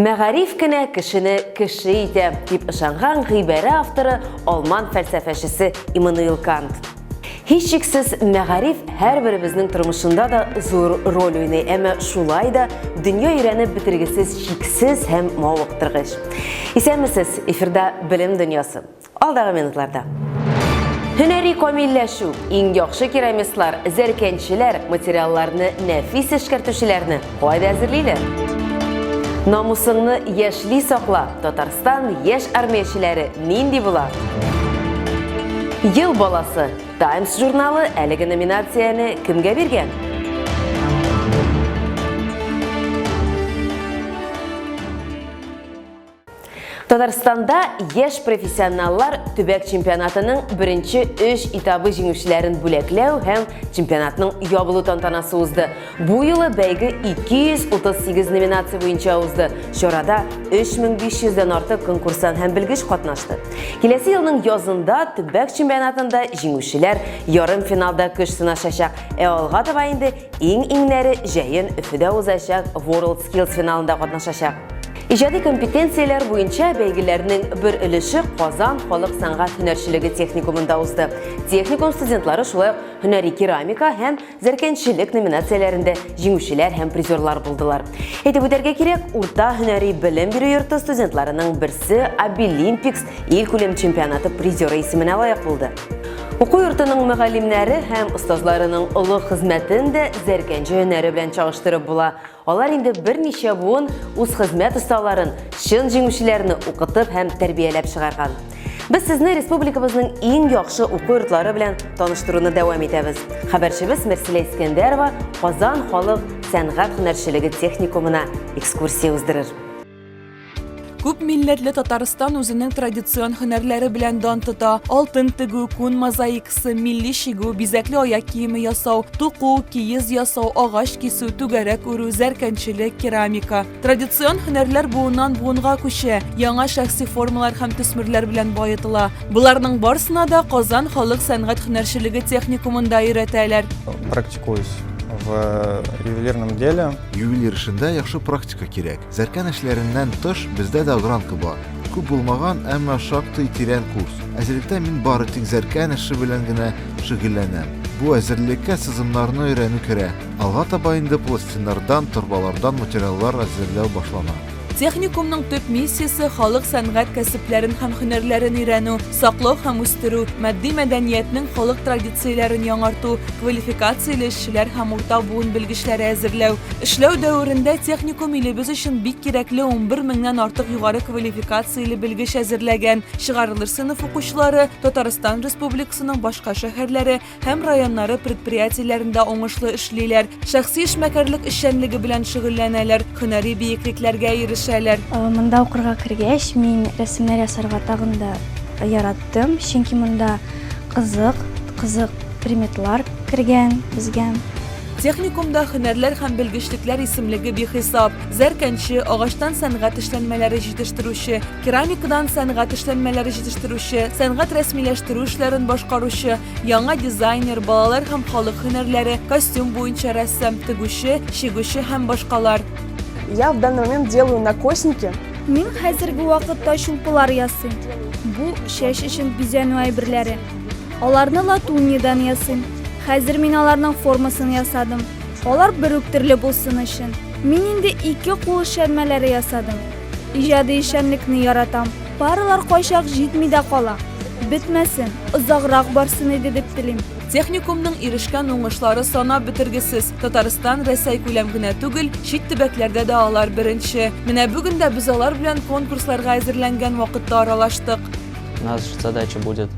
Мәгариф кенә кешене кеше итә, дип ышанган гыйбәрә авторы алман фәлсәфәчесе Иммануил Кант. Һичшиксез, мәгариф һәрберебезнең тормышында да зур роль уйный, әмма шулай да дөнья өйрәнеп бетергесез, чиксез һәм мавыктыргыч. Исәнмесез, эфирда Белем дөньясы. Алдагы минутларда. Һөнәри камилләшү, иң яхшы керамистлар, зәркәнчеләр материалларны нәфис эшкәртүчеләрне кайда әзерлиләр? Намусыңны яшьли сакла, Татарстан яшь армиячеләре нинди була? Ел баласы, Times журналы әлеге номинацияне кемгә биргән? Татарстанда яшь профессионаллар төбәк чемпионатының беренче өч этабы җиңүчеләрен бүләкләү һәм чемпионатның ябылу тантанасы узды. Бу юлы бәйге 238 номинация буенча узды. Чарада 3500 дән артык конкурсан һәм белгеч катнашты. Киләсе елның язында төбәк чемпионатында җиңүчеләр ярым финалда көч сынашачак. Ә алга таба инде иң-иңнәре җәен Өфөдә узачак World Skills финалында катнашачак. Иҗади компетенцияләр буенча бәйгеләрнең бер өлеше Казан халык сәнгать һөнәрчелеге техникумында узды. Техникум студентлары шулай ук һөнәри керамика һәм зәркәнчелек номинацияләрендә җиңүчеләр һәм призерлар булдылар. Әйтеп үтәргә кирәк, урта һөнәри белем бирү йорты студентларының берсе Абилимпикс ил күләм чемпионаты призеры исеменә лаек булды. Уку йортының мөгаллимнәре һәм остазларының олы хезмәтен дә зәркәнче һөнәре белән чагыштырып була. Алар инде берничә буын үз хезмәт осталарын, чын җиңүчеләрне укытып һәм тәрбияләп чыгарган. Без сезне республикабызның иң яхшы уку йортлары белән таныштыруны дәвам итәбез. Хәбәрчебез Мерсилә Искәндәрова Казан халык сәнгать һөнәрчелеге техникумына экскурсия уздырыр. Күп милләтле Татарстан үзенең традицион һөнәрләре белән дан тота. Алтын тегү, күн мозаикасы, милли чигү, бизәкле аяк киеме ясау, туку, киез ясау, агач кисү, түгәрәк үрү, зәркәнчелек, керамика. Традицион һөнәрләр буыннан буынга күчә, яңа шәхси формалар һәм төсмерләр белән баетыла. Боларның барсына да Казан халык сәнгать һөнәрчелеге техникумында өйрәтәләр. Практикуюсь в ювелирном деле. Ювелир эшендә яхшы практика кирәк. Зәркән эшләреннән тыш, бездә дә огранка бар. Күп булмаган, әмма шактый тирән курс. Әзерлектә мин бары тик зәркән эше белән генә шөгыльләнәм. Бу әзерлеккә сызымнарны өйрәнү керә. Алга таба инде пластиннардан, торбалардан материаллар әзерләү башлана. Техникумның төп миссиясе, халык сәнгать кәсепләрен һәм һөнәрләрен өйрәнү, саклау һәм үстерү, матди мәдәниятнең халык традицияләрен яңарту, квалификацияле Кешеләр һәм урта буын белгечләре әзерләү. Эшләү дәверендә техникум илебез өчен бик кирәкле 11 меңнән артык югары квалификацияле белгеч әзерләгән. Чыгарылыр сыйныф укучылары Татарстан Республикасының башка шәһәрләре һәм районнары предприятиеләрендә уңышлы эшлиләр, шәхси эшмәкәрлек эшчәнлеге белән шөгыльләнәләр, һөнәри биеклекләргә ирешәләр. Монда укырга кергәч, мин рәсемнәр ясарга тагын да яраттым, чөнки монда Кызык, кызык приметлар кергән безгә. Техникумда һөнәрләр һәм белгечлекләр исемлеге бихисап. Зәркәнче, агачтан сәнгать эшләнмәләре җитештерүче, керамикадан сәнгать эшләнмәләре җитештерүче, сәнгать рәсмиләштерү эшләрен башкаручы, яңа дизайнер, балалар һәм халык һөнәрләре, костюм буенча рәссам, тегүче, чигүче һәм башкалар. Я в данный момент делаю на косники. Мин хәзерге вакытта чулпылар ясыйм. Бу чәч өчен бизәнү әйберләре. Аларны латуньядан ясыйм. Хәзер мин аларның формасын ясадым. Алар бер үк төрле булсын өчен. Мин инде ике кул эшләнмәләре ясадым. Иҗади эшчәнлекне яратам. Паралар кайчак җитми дә кала. Бетмәсен, озаграк барсын иде дип телим. Техникумның ирешкән уңышлары санап бетергесез. Татарстан, Рәсәй күләм генә түгел, чит төбәкләрдә дә алар беренче. Менә бүген дә без алар белән конкурсларга әзерләнгән вакытта аралаштык. Наша задача будет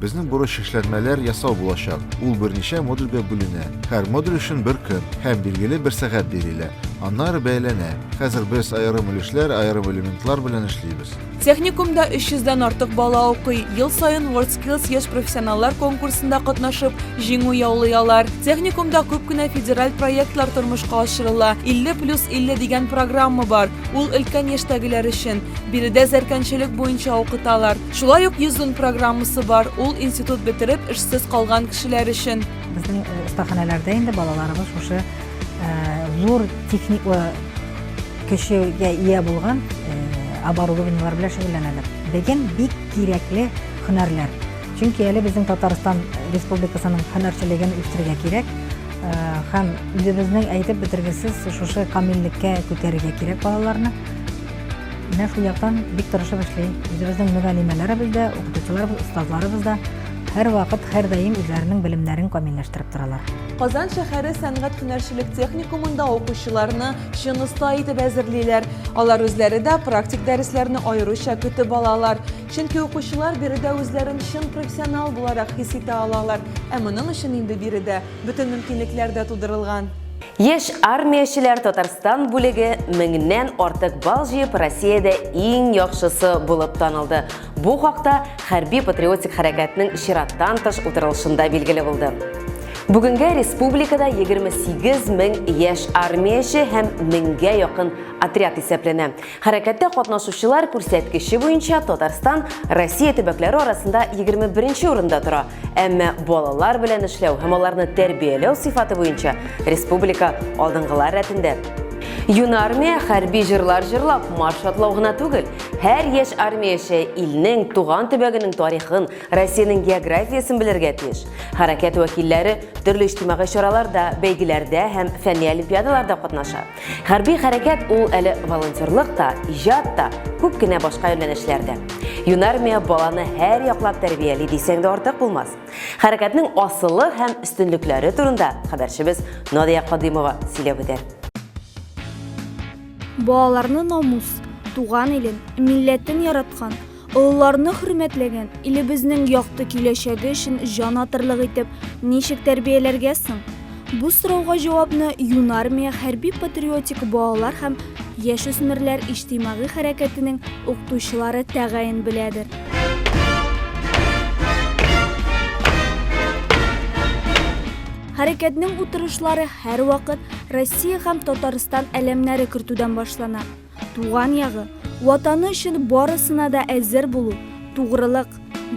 Безнең бурыч эшләнмәләр ясау булачак. Ул берничә модульгә бүленә. Һәр модуль өчен бер көн һәм билгеле бер сәгать бирелә. Аннары бәяләнә. Хәзер без аерым өлешләр, аерым элементлар белән эшлибез. Техникумда 300 дән артык бала укый. Ел саен WorldSkills яшь профессионаллар конкурсында катнашып, җиңү яулый алар. Техникумда күп кенә федераль проектлар тормышка ашырыла. 50 плюс 50 дигән программа бар. Ул өлкән яшьтәгеләр өчен. Биредә зәркәнчелек буенча укыталар. Шулай ук Йөзүн программасы бар. Ул институт бетереп, эшсез калган кешеләр өчен. Безнең остаханәләрдә инде балаларыбыз шушы зур техник Кешегә ия булган оборудованиелар белән шөгыльләнәләр. Безгә бик кирәкле һөнәрләр. Чөнки әле безнең Татарстан Республикасының һөнәрчелеген үстерергә кирәк. Һәм үзебезнең әйтеп бетергесез шушы камиллеккә күтәрергә кирәк балаларны. Менә шул яктан бик тырышып эшли. Үзебезнең мөгаллимәләребез дә, укытучыларыбыз, остазларыбыз да һәрвакыт, һәрдаим үзләренең белемнәрен камилләштереп торалар. Казан шәһәре сәнгать-һөнәрчелек техникумында укучыларны Чын оста итеп әзерлиләр. Алар үзләре дә практик дәресләрне аеруча көтеп алалар. Чөнки укучылар биредә үзләрен чын профессионал буларак хис итә алалар. Ә моның өчен инде биредә бөтен мөмкинлекләр дә тудырылган. Яшь армиячеләр Татарстан бүлеге меңнән артык балл җыеп Россиядә иң яхшысы булып танылды. Бу хакта хәрби-патриотик хәрәкәтнең чираттан тыш утырылышында билгеле булды. Бүгенгә республикада 28 мең яшь армияче һәм меңгә якын отряд исәпләнә. Хәрәкәттә катнашучылар күрсәткече буенча Татарстан Россия төбәкләре арасында 21 урында тора. Әмма балалар белән эшләү һәм аларны тәрбияләү сыйфаты буенча республика алдынгылар рәтендә. Юнармия хәрби җырлар җырлап, марш атлау гына түгел, Һәр яшь армияче илнең, туган төбәгенең тарихын, Россиянең географиясен белергә тиеш. Хәрәкәт вәкилләре төрле иҗтимагый чараларда, бәйгеләрдә һәм фәнни олимпиадаларда катнаша. Хәрби хәрәкәт ул әле волонтерлык та, иҗат та, күп кенә башка юнәлешләр дә. Юнармия баланы һәр яклап тәрбияли дисәң дә артык булмас. Хәрәкәтнең асылы һәм өстенлекләре турында хәбәрчебез Надия Кадыймова сөйләп үтә. Балаларны намус, туган илен, милләтен яраткан, олыларны хөрмәтләгән, илебезнең якты киләчәге өчен җан атырлык итеп ничек тәрбияләргә соң? Бу сорауга җавапны Юнармия хәрби-патриотик балалар һәм яшүсмерләр иҗтимагый хәрәкәтенең укытучылары тәгаен беләдер. Хәрәкәтнең утырышлары һәрвакыт Россия һәм Татарстан әләмнәре кертүдән башлана. Туган ягы, Ватаны өчен барысына да әзер булу, тугрылык,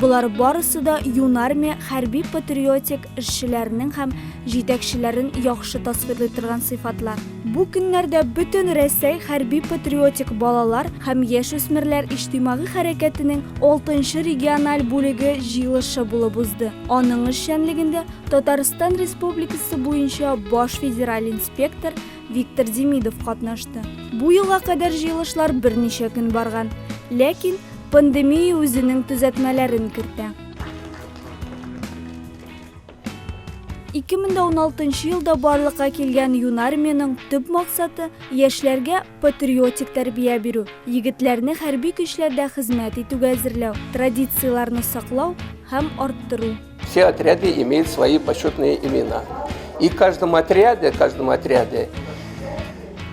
болар барысы да юнармия хәрби-патриотик эшчеләренең һәм җитәкчеләрен яхшы тасвирлый торган сыйфатлар. Бу көннәрдә Бөтен Рәсәй хәрби-патриотик балалар һәм яшүсмерләр иҗтимагый хәрәкәтенең алтынчы региональ бүлеге җыелышы булып узды. Аның эшчәнлегендә Татарстан Республикасы буенча баш федераль инспектор Виктор Демидов катнашты. Бу елга кадәр җыелышлар берничә көн барган, ләкин пандемия үзенең төзәтмәләрен кертә. 2016 елда барлыкка килгән юнармиянең төп максаты яшьләргә патриотик тәрбия бирү, егетләрне хәрби көчләрдә хезмәт итүгә әзерләү, традицияләрне саклау һәм арттыру. Все отряды имеют свои почетные имена. И каждому отряде, каждому отряде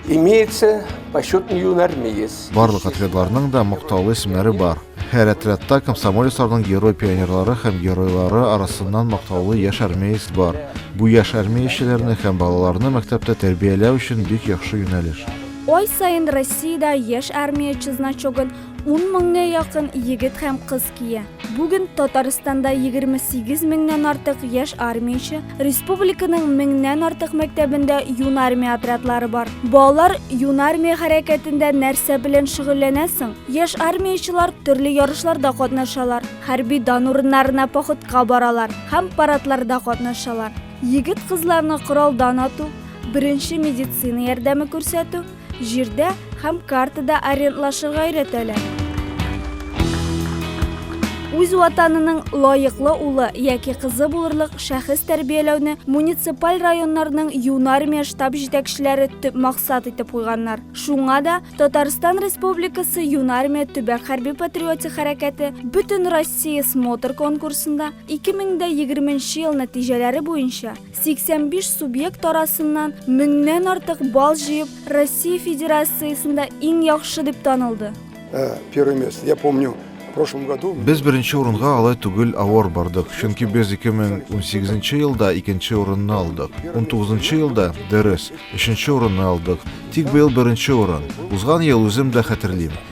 имеется почетный юнармеец. Барлык отрядларның да мактаулы исемнәре бар. Һәр отрядта комсомолецларның герой пионерлары һәм геройлары арасыннан мактаулы яшь армеец бар. Бу яшь армеячеләрне һәм балаларны мәктәптә тәрбияләү өчен бик яхшы юнәлеш. Ой сайын Россиядә яшь армияче значогын Ун меңгә якын егет һәм кыз кия. Бүген Татарстанда 28 меңнән артык яшь армияче, республиканың меңнән артык мәктәбендә юнармия отрядлары бар. Балалар юнармия хәрәкәтендә нәрсә белән шөгыльләнә соң? Яшь армиячелар төрле ярышларда катнашалар, хәрби дан урыннарына походка баралар һәм парадларда катнашалар. Егет-кызларны коралдан ату, беренче медицина ярдәме күрсәтү, Җирдә һәм картада арендлашырга өйрәтәләр. Үз ватанының лаеклы улы яки кызы булырлык шәхес тәрбияләүне муниципаль районнарның юнармия штаб җитәкчеләре төп максат итеп куйганнар. Шуңа да Татарстан Республикасы юнармия төбәк хәрби-патриотик хәрәкәте Бөтенроссия смотр конкурсында 2020 ел нәтиҗәләре буенча 85 субъект арасыннан меңнән артык балл җыеп, Россия Федерациясендә иң яхшы дип танылды. Первое место. Я помню, в прошлом году... Без беренче урынга алай түгел авыр бардык, чөнки без 2018 елда икенче урынны алдык, 19 елда, дөрес, өченче урынны алдык, тик быел беренче урын. Узган ел, үзем дә хәтерлим,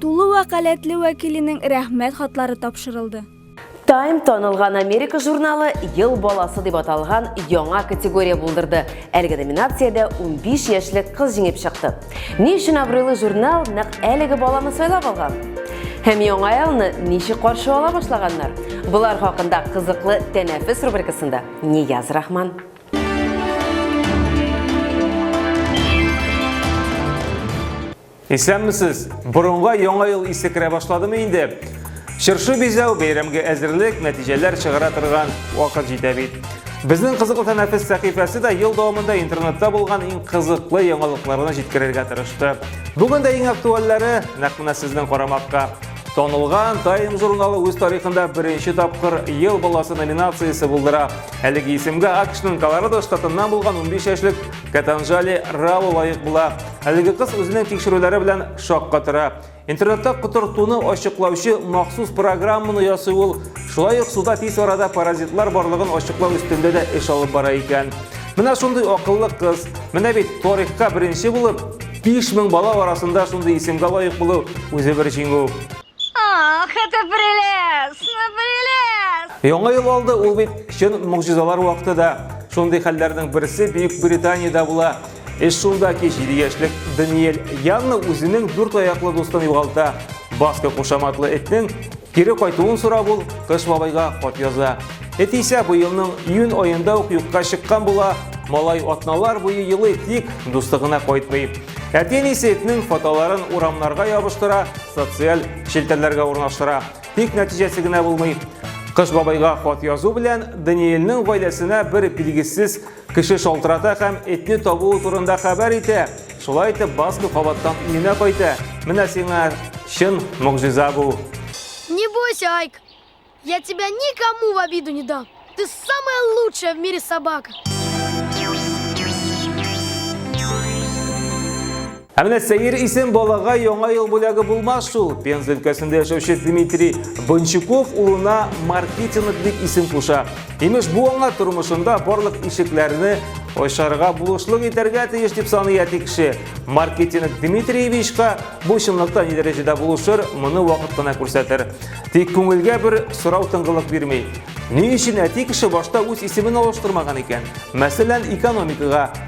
Тулы вәкаләтле вәкиленең Рәхмәт хатлары тапшырылды. Time танылган Америка журналы Ел баласы дип аталган яңа категория булдырды. Әлеге номинациядә 15 яшьлек кыз җиңеп чыкты. Ни өчен абруйлы журнал нәкъ әлеге баланы сайлап алган? Һәм яңа елны ничек каршы ала башлаганнар? Болар хакында кызыклы тәнәфес рубрикасында Нияз Рахман. Исәнмесез! Борынга яңа ел исе керә башладымы инде? Чыршы бизәү, бәйрәмгә әзерлек, нәтиҗәләр чыгара торган вакыт җитә бит. Безнең кызыклы тәнәфес сәхифәсе дә ел дәвамында интернетта булган иң кызыклы яңалыкларны җиткерергә тырышты. Бүген дә иң актуальләре нәкъ менә сезнең карамакка. Танылган Time журналы үз тарихында беренче тапкыр Ел баласы номинациясе булдыра. Әлеге исемгә АКШның Колорадо штатыннан булган 15 яшьлек Катанжали Рау лаек була. Әлеге кыз үзенең тикшерүләре белән шакка тора. Интернетта котыртуны ачыклаучы махсус программаны ясый ул. Шулай ук суда тиз арада паразитлар барлыгын ачыклау өстендә дә эш алып бара икән. Менә шундый акыллы кыз. Менә бит тарихка беренче булып 5000 бала арасында шундый исемгә лаек булу үзе бер җиңү. Ах, это прелестно, прелестно! Яңа ел алды ул бит чын могҗизалар вакыты да. Шундый хәлләрнең берсе Бөек Британиядә була. Эш шунда ки, 7 яшьлек Даниэль Янна үзенең дүрт аяклы дустын югалта. Баска кушаматлы этнең кире кайтуын сорап ул Кыш бабайга хат яза. Эт исә быелның июнь аенда ук юкка чыккан була. Малай атналар буе елый, тик дусты гына кайтмый. Әти-әнисе этнең фотоларын урамнарга ябыштыра, социаль челтәрләргә урнаштыра. Тик нәтиҗәсе генә булмый. Кыш бабайга хат язу белән Даниэльнең гаиләсенә бер билгесез Кеше шалтырата һәм этне табуы турында хәбәр итә. Шулай итеп, Басков кабаттан өенә кайта. Менә сиңа чын могҗиза бу. Не бойся, Айк. Я тебя никому в обиду не дам. Ты самая лучшая в мире собака. Ә менә сәер исем балага яңа ел бүләге булмас шул. Пенза өлкәсендә яшәүче Дмитрий Бончуков улына маркетинг дип исем куша. Имеш, бу аңа тормышында барлык ишекләрне ачарга булышлык итәргә тиеш дип саный әти кеше. Маркетинг Дмитриевичка бу чынлыкта ни дәрәҗәдә булышыр, моны вакыт кына күрсәтер. Тик күңелгә бер сорау тыңгылык бирми. Ни өчен әти кеше башта үз исемен алыштырмаган икән? Мәсәлән, экономикага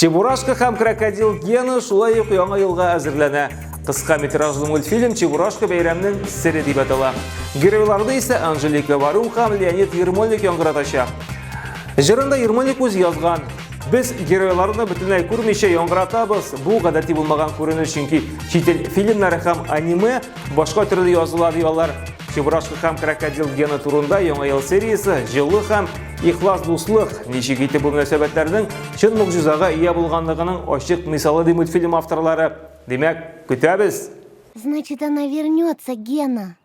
Чебурашка һәм крокодил Гена шулай ук яңа елга әзерләнә. Кыска метражлы мультфильм Чебурашка бәйрәмнең сере дип атала. Геройларны исә Анжелика Варум һәм Леонид Ермольник яңгыратачак. Җырында Ермольник үз язган. Без геройларны бөтенләй күрмичә яңгыратабыз. Бу гадәти булмаган күренеш, чөнки чит ил фильмнары һәм аниме башка төрле языла ди алар. Чебурашка һәм крокодил Гена турында яңа ел сериясе җылы һәм Ихлас дуслык, ничек итеп бу мөнәсәбәтләрнең чын могҗизага ия булганлыгының ачык мисалы ди мультфильм авторлары. Димәк, көтәбез! Значит, она вернется, Гена.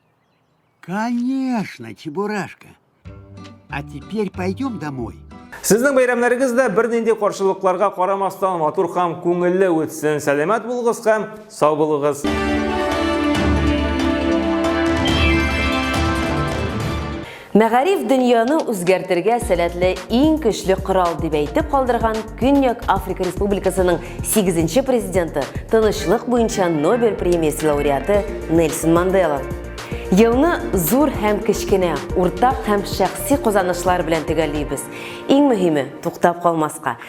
Конечно, Чебурашка. А теперь пойдем домой. Сезнең бәйрәмнәрегез дә бернинди каршылыкларга карамастан матур һәм күңелле үтсен. Сәламәт булыгыз һәм сау булыгыз. Мәгариф дөньяны үзгәртергә сәләтле иң көчле корал дип әйтеп калдырган Көньяк Африка Республикасының 8 президенты, тынычлык буенча Нобель премиясе лауреаты Нельсон Мандела. Елны зур һәм кечкенә, уртак һәм шәхси казанышлар белән төгәллибез. Иң мөһиме, туктап калмаска.